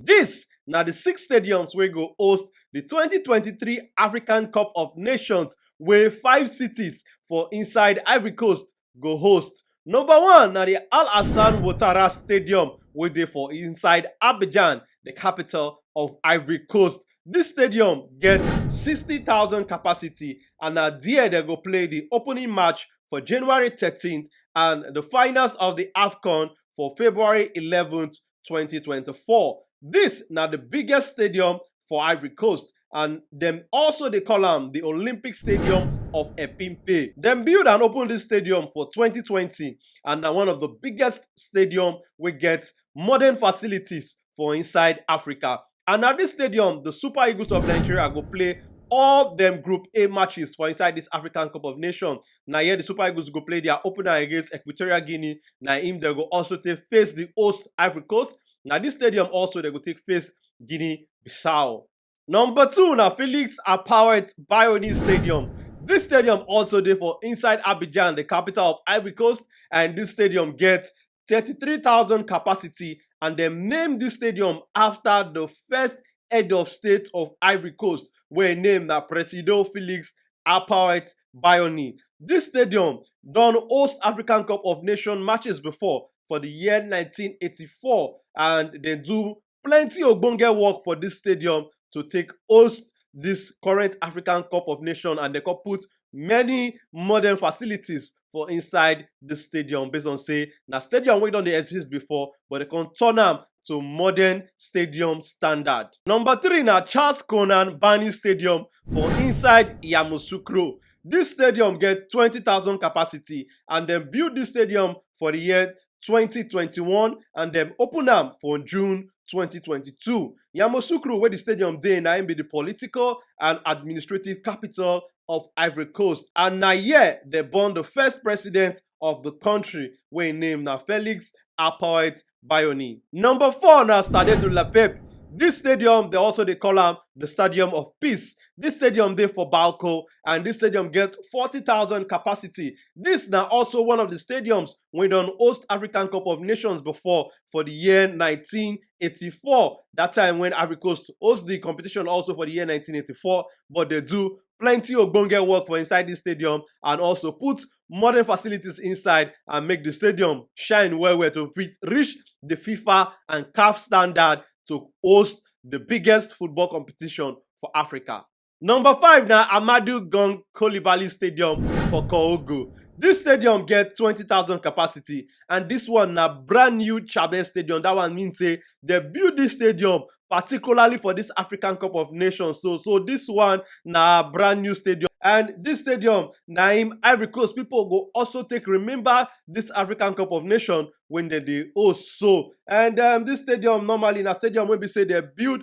Dis na di six stadiums wey go host di twenty twenty three African Cup of Nations wey five cities for inside Ivory Coast go host. Number one na di Al Hassan Ouattara Stadium wey dey for inside Abidjan, di capital of Ivory Coast. Dis stadium get sixty thousand capacity and na there dem go play di opening match for January thirteen and di finals of di AFCON for February eleven 2024. This na the biggest stadium for Ivory Coast and dem also dey call am the Olympic Stadium of Epimpe. Dem build and open this stadium for 2020 and na one of the biggest stadium wey get modern facilities for inside Africa. and na dis stadium di super eagles of Nigeria go play all dem group A matches for inside dis African cup of nation na here di super eagles go play dia opener against Equatorial Guinea na im dem go also take face di host Ivory Coast na dis stadium also dem go take face Guinea Bissau. Number two na Felix Apoet Bioni Stadium dis stadium also dey for inside Abidjan di capital of Ivory Coast and dis stadium get 33000 capacity and dem name dis stadium afta di first head of state of ivory coast wey im name na presido felix apaote baioni dis stadium don host african cup of nations matches bifor for di year 1984 and dem do plenty ogbonge work for dis stadium to take host dis current african cup of nations and dem come put many modern facilities for inside di stadium based on say na stadium wey don dey exist before but dem come turn am to modern stadium standard. Number three na Charles Konan Banny Stadium for inside Yamoussoukro. Dis stadium get twenty thousand capacity and dem build dis stadium for di year 2021 and dem open am for June 2022. Yamoussoukro, where the stadium dey, na im be the political and administrative capital of Ivory Coast. And na here they born the first president of the country, wey im name na Felix Apoet Bayoni. Number four na Stade de la Paix. This stadium, they also dey call am the Stadium of Peace. This stadium dey for Balko and this stadium get 40,000 capacity. This na also one of the stadiums wey don host african cup of nations before for di year 1984 dat time wen ivory coast host di competition also for di year 1984 but dey do plenty ogbonge work for inside dis stadium and also put modern facilities inside and make di stadium shine well well to fit reach di fifa and caf standard to host di biggest football competition for africa Number five na Ahmadu Gong Coulibaly Stadium for Kohogo. Dis stadium get twenty thousand capacity and dis one na brand new Chabez stadium. Dat one mean sey de build dis stadium particularly for dis African Cup of Nations so. So, dis one na brand new stadium and dis stadium na im Ivory Coast pipu go also take remember dis African Cup of Nation wey de dey host so. And um dis stadium normally na stadium wey be sey de build